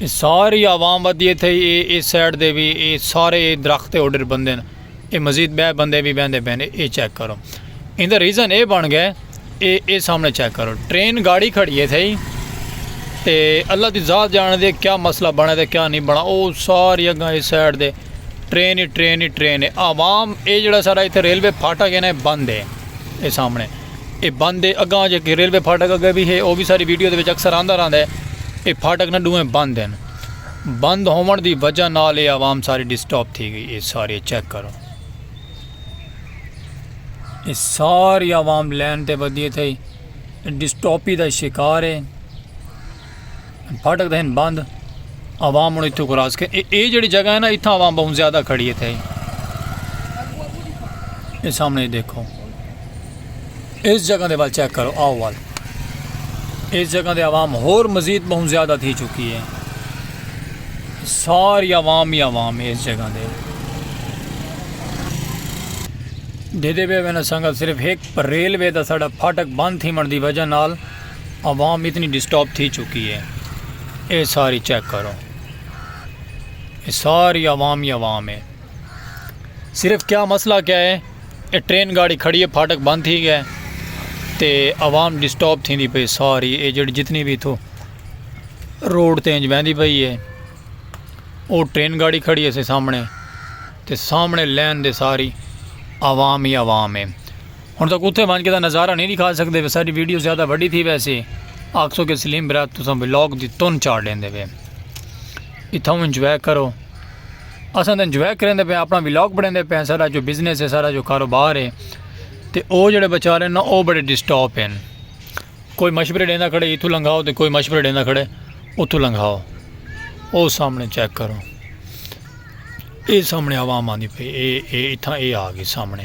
اے ساری عوام ودی اے تھئی اے اے سائیڈ دے وی اے سارے اے درخت تے اوڈر بندے ن اے مزید بئے بندے وی بیندے پئے ن اے چیک کرو ایندا ریزن اے بن گئے اے اے سامنے چیک کرو ٹرین گاڑی کھڑی اے تھئی تے اللہ دی ذات جان دے کیا مسئلہ بنے تے کیا نہیں بنا او ساری اگاں اے سائیڈ دے ٹرین ہی ٹرین ہی ٹرین اے عوام اے جڑا سارا ایتھے ریلوے پھاٹا گینا اے بند اے اے سامنے اے بند ہے اگاں جے کہ ریلوے پھاٹک اگے بھی ہے او بھی ساری ویڈیو دے وچ اکثر آندا رہندا ہے اے پھاٹک نہ ڈوہیں بند ہیں بند ہوون دی وجہ نال اے عوام ساری ڈسٹاپ تھی گئی اے سارے چیک کرو اے ساری عوام لین تے ودی تھئی ڈسٹاپی دا شکار ہے پھاٹک دہن بند عوام ہوں اتو کراس کے اے جڑی جگہ ہے نا اتھا عوام بہت زیادہ کھڑی ہے تھے اے سامنے دیکھو اس جگہ دے بات چیک کرو آؤ وال اس جگہ دے عوام ہور مزید بہت زیادہ تھی چکی ہے ساری عوام ہی عوام ہے اس جگہ دے دیدے بے میں نے سنگا صرف ایک ریلوے دا ساڑا پھاٹک بند تھی من دی وجہ نال عوام اتنی ڈسٹاپ تھی چکی ہے اے ساری چیک کرو اے ساری عوام ہی عوام ہے صرف کیا مسئلہ کیا ہے اے ٹرین گاڑی کھڑی ہے پھاٹک بند تھی گئے تے عوام ڈسٹاپ تھی دی پئی ساری اے جڑی جتنی بھی تھو روڈ تے انج بہندی پئی ہے او ٹرین گاڑی کھڑی ہے سے سامنے تے سامنے لین دے ساری عوام ہی عوام ہے ہن تک اتھے ونج کے دا نظارہ نہیں دکھا سکدے وے ساڈی ویڈیو زیادہ وڈی تھی ویسے آکسو کے سلیم برات تساں ولاگ دی تن چاڑ ڈیندے وے اتھاں انجوائے کرو اساں تے انجوائے کریندے پے اپنا ولاگ بنیندے پے سارا جو بزنس ہے سارا جو کاروبار ہے تے او جڑے بیچارے نا او بڑے ڈسٹرب ہیں کوئی مشورے ڈیندا کھڑے اتھوں لنگاؤ تے کوئی مشورے ڈیندا کھڑے اتھوں لنگاؤ او سامنے چیک کرو اے سامنے عوام آندی پے اے اے اتھاں اے آ گئی سامنے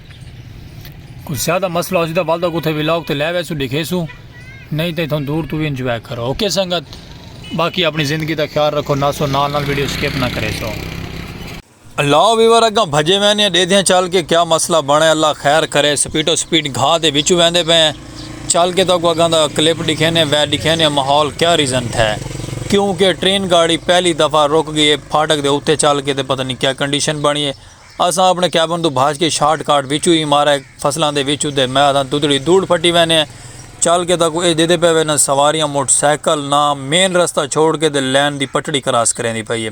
کوئی زیادہ مسئلہ ہو سی تو والدہ کو تھے ولاگ تے لے ویسو دکھے سو نہیں تے تھن دور تو بھی انجوائے کرو اوکے سنگت باقی اپنی زندگی دا خیال رکھو ناسو نال نال ویڈیو سکپ نہ کرے سو اللہ ویور اگاں بھجے میں نے دے دیاں چل کے کیا مسئلہ بنے اللہ خیر کرے سپیٹو سپیٹ گھا دے وچو ویندے پہ ہیں چل کے تو کو اگاں دا کلپ دکھے نے وے دکھے نے ماحول کیا ریزن تھے کیونکہ ٹرین گاڑی پہلی دفعہ رک گئی ہے پھاٹک دے اوتے چل کے تے پتہ نہیں کیا کنڈیشن بنی ہے اساں اپݨے کیبن توں بھج کے شارٹ کاٹ وچوں ہی مارئے فصلاں دے وچ اتے میداں تدڑی دوڑ پھٹی ویندے ہیں۔ چل کے تاں کوں اے ݙیدھے پئے ویندن سواریاں موٹر سائیکل نہ مین رستہ چھوڑ کے تے لین دی پٹڑی کراس کریندی پئی ہے۔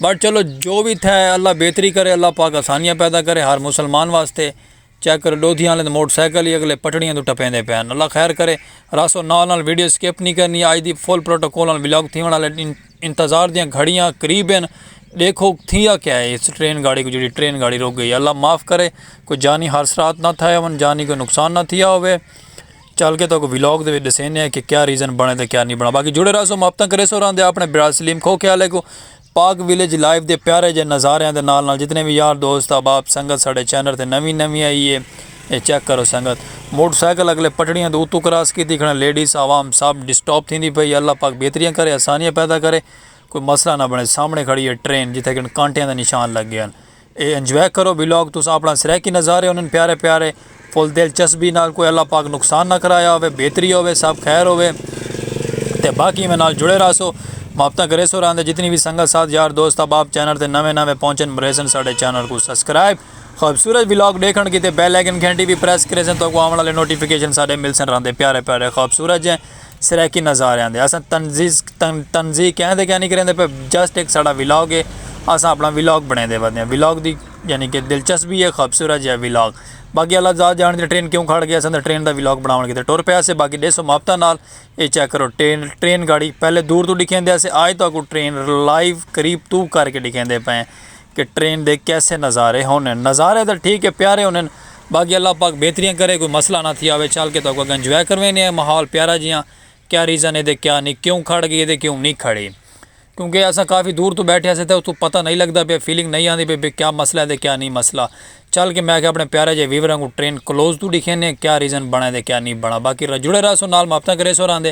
بٹ چلو جو وی تھئے اللہ بہتری کرے اللہ پاک آسانیاں پیدا کرے ہر مسلمان واسطے۔ چیک کرو ڈودھیاں آلیں تے موٹر سائیکل ہی اگلے پٹڑیاں توں ٹپیندے پئے ہن اللہ خیر کرے راسو نال نال ویڈیو اسکپ نی کرنی اج دی فل پروٹوکول نال ولاگ تھیونڑ آلے انتظار دیاں گھڑیاں قریب ہن ڈیکھو تھیا کیا ہے اس ٹرین گاڑی کوں جیڑھی ٹرین گاڑی رک گئی ہے اللہ معاف کرے کوئی جانی حادثرات نہ تھئے ہون جانی کوئی نقصان نہ تھیا ہووے چل کے تہاکوں ولاگ دے وچ ڈسینے آں کہ کیا ریزن بنے تے کیا نی بنا باقی جڑے رہسو محبتاں کریسو راں دے اپنے برا سلیم کھوکھے آلے کوں پاک ولیج لائف دے پیارے جے نظاریاں دے نال نال جتنے وی یار دوست احباب سنگت ساڈے چینل تے نویں نویں آئی اے اے چیک کرو سنگت موٹر سائیکل اگلے پٹڑیاں دے اتوں کراس کیتی کھڑن لیڈیز عوام سب ڈسٹاپ تھیندی پئی اے اللہ پاک بہتریاں کرے آسانیاں پیدا کرے کوئی مسئلہ نہ بنے سامنے کھڑی اے ٹرین جتھے کن کانٹیاں دے نشان لگے ہن اے انجوائے کرو ولاگ تس اپنا سرائیکی نظارے ہونن پیارے پیارے فل دل چسبی نال کوئی اللہ پاک نقصان نہ کرایا ہووے بہتری ہووے سب خیر ہووے تے باقی ایویں نال جڑے راہسو محبتاں کریسو راہندے جتنی وی سنگت ساتھ یار دوست احباب چینل تے نویں نویں پہنچن مریسن ساڈے چینل کوں سبسکرائب خوبصورت ولاگ ڈیکھن کیتے بیل آئیکن گھنٹی وی پریس کریسن تہاکوں آون آلے نوٹیفیکیشن ساڈے ملسن راہندے پیارے پیارے خوبصورت جیں سرائیکی نظاریاں دے اساں تنزیہ کیاں دے کیاں نی کریندے پئے جسٹ ہک ساڈا ولاگ ہے اساں اپنا ولاگ بنڑیندے ودے ہاں ولاگ دی یعنی کہ دلچسپی ہے خوبصورت جیہا ولاگ باقی اللہ ذات جانڑدے ٹرین کیوں کھڑ گئی اساں تے ٹرین دا ولاگ بنڑاونڑ کیتے ٹر پئے ہاسے باقی ڈیسو مابطہ نال اے چیک کرو ٹرین ٹرین گاڑی پہلے دور توں ڈکھیندے ہاسے آج تہاکوں ٹرین لائیو قریب توں کر کے ڈکھیندے پئے ہیں کہ ٹرین دے کیسے نظارے ہونن۔ نظارے تاں ٹھیک ہے پیارے ہونن باقی اللہ پاک بہتریاں کرے کوئی مسئلہ نہ تھیا ہووے چل کے تہاکوں اگاں انجوائے کرویندے ہیں ماحول پیارا جیاں کیا ریزن ہے کیا نہیں کیوں کھڑ گئی ہے کیوں نہیں کھڑی کیونکہ اساں کافی دور توں بیٹھے سے تاں اتھوں پتہ نہیں لگدا پیا فیلنگ نہیں آندی پئی کیا مسئلہ ہے کیا نہیں مسئلہ چل کے میں آکھیا اپنے پیارے جے ویوراں کوں ٹرین کلوز توں ڈکھیندے ہیں کیا ریزن بنا ہے کیا نہیں بنا باقی جڑے رہسو نال محبتاں کریسو راہندے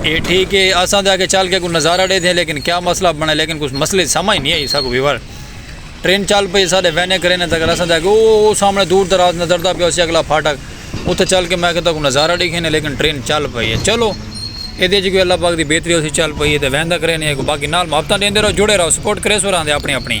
اے ٹھیک اے اساں تے آگے چل کے کوئی نظارہ ڈیدھے لیکن کیا مسئلہ بنے لیکن کچھ مسئلے دی سمجھ نہیں آئی ساکو ویور ٹرین چل پئی ساڈے وینے کرینے تک اساں تے آگے او سامنے دور دراز نظر دا پیا سی اگلا پھاٹک اتھے چل کے میں کہتا کوئی نظارہ ڈیکھینے لیکن ٹرین چل پئی ہے چلو اے دے جی کوئی اللہ پاک دی بہتری ہو سی چل پئی ہے تے ویندہ کرینے باقی نال محبتاں دیندے رہو جڑے رہو سپورٹ کریسو راندے اپنی اپنی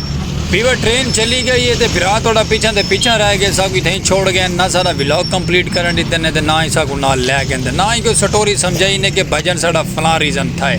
بیوا ٹرین چلی گئی ہے تے بھرا تہاڈا پیچھاں دے پیچھاں رہ گئے ساکو اتھے ہی چھوڑ گئے نہ سارا ولاگ کمپلیٹ کرن دیتے نے تے نہ ہی ساکو نال لے گئے تے نہ ہی کوئی سٹوری سمجھائی نے کہ بھجن ساڈا فلاں ریزن تھا ہے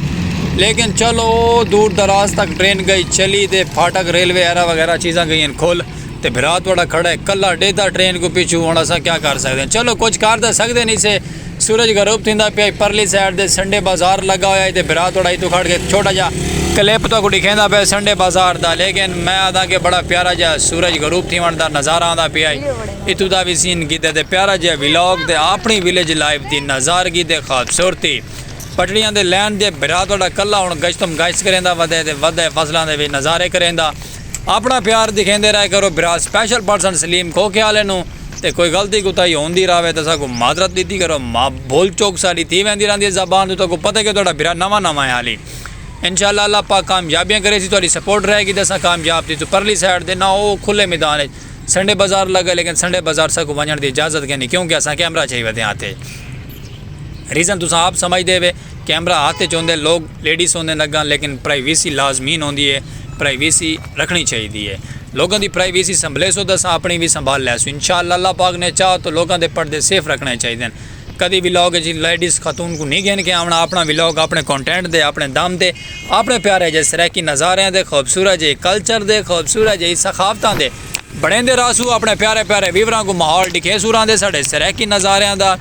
لیکن چلو دور دراز تک ٹرین گئی چلی تے پھاٹک ریلوے ایرا وغیرہ چیزاں گئی ہیں کھول تے بھرا تہاڈا کھڑا ہے کلا ڈیدھا ٹرین کو پیچھو ہن اساں کیا کر سکدے ہیں چلو کچھ کر تے سکدے نہیں سے سورج غروب تھیندا پیا ہئی پرلی سائیڈ تے سنڈے بازار لگا ہویا ہئی تے بھرا تھوڑا اتھوں کھڑ کے چھوٹا جا کلپ تہاکوں ڈکھیندا پیا سنڈے بازار دا لیکن میں آہداں کہ بڑا پیارا جا سورج غروب تھیون دا نظارہ آندا پیا ہئی اتھوں دا وی سین کیتے تے پیارا جیا ولاگ تے آپنی ولیج لائف دی نظارگی تے خوبصورتی پٹڑیاں دے لین دے بھرا تہاڈا کلا ہن گشتم گشت کریندا ودے تے ودے فصلاں دے وی نظارے کریندا۔ اپنا پیار دکھیندے رہے کرو بھرا سپیشل پرسن سلیم کھوکھے آلے نوں تے کوئی غلطی کوتاہی ہوندی راہوے تاں ساکوں معذرت ڈتی کرو ماں بھول چوک ساڈی تھی ویندی راہندی ہے زبان توں تہاکوں پتہ کہ تہاڈا بھرا نواں نواں ہے حالی انشاءاللہ اللہ پاک کامیابیاں کریسی تہاڈی سپورٹ رہے گی تاں اساں کامیاب تھیسوں پرلی سائیڈ دے نہ او کھلے میدان اچ سنڈے بازار لگے لیکن سنڈے بازار ساکوں ونجنڑ دی اجازت کینی کیونکہ اساں کیمرہ چائی ودیاں ہاں تے ریزن تساں آپ سمجھدے ہوے۔ کیمرہ ہتھ اچ ہوندے لوگ لیڈیز ہوندن اگاں لیکن پرائیویسی لازمین ہوندی اے پرائیویسی رکھنڑی چاہیدی اے لوگاں دی پرائیویسی سنبھلیسوں تاں اساں اپنڑی وی سنبھال لیسوں انشاءاللہ اللہ پاک نے چاہ تاں لوگاں دے پردے سیف رکھنڑے چاہیدن کدی ولاگ اچ لیڈیز خاتون کوں نی گھن کے آونڑاں اپنڑاں ولاگ اپنڑے کونٹینٹ دے اپنڑے دم تے اپنڑے پیارے جئے سرائیکی نظاریاں دے خوبصورت جئے کلچر دے خوبصورت جئے ثقافتاں دے بنڑیندے راہسوں اپنڑے پیارے پیارے ویوراں کوں ماحول ڈکھیسوں راہندے ساڈے سرائیکی نظاریاں دا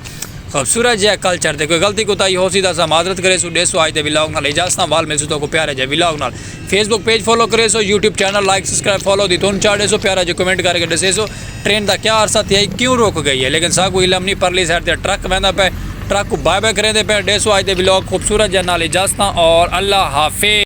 خوبصورت جیہا کلچر تے کوئی غلطی کوتاہی ہوسی تاں اساں معذرت کریسوں ڈیسو آج دے ولاگ نال اجازت نال وال ملسوں تہاکوں پیارے جے ولاگ نال فیس بک پیج فالو کریسو YouTube channel like subscribe follow دی تون چا ڈیسو پیارا جے کمنٹ کر کے ڈسیسو ٹرین دا کیا عرصہ تھیا ہی کیوں رک گئی ہے لیکن ساکوں علم نی پرلی سائیڈ تے ٹرک ویندا پئے ٹرک کوں بائے بائے کریندے پئے ڈیسو آج دے ولاگ خوبصورت جے نال اجازتاں اور اللہ حافظ۔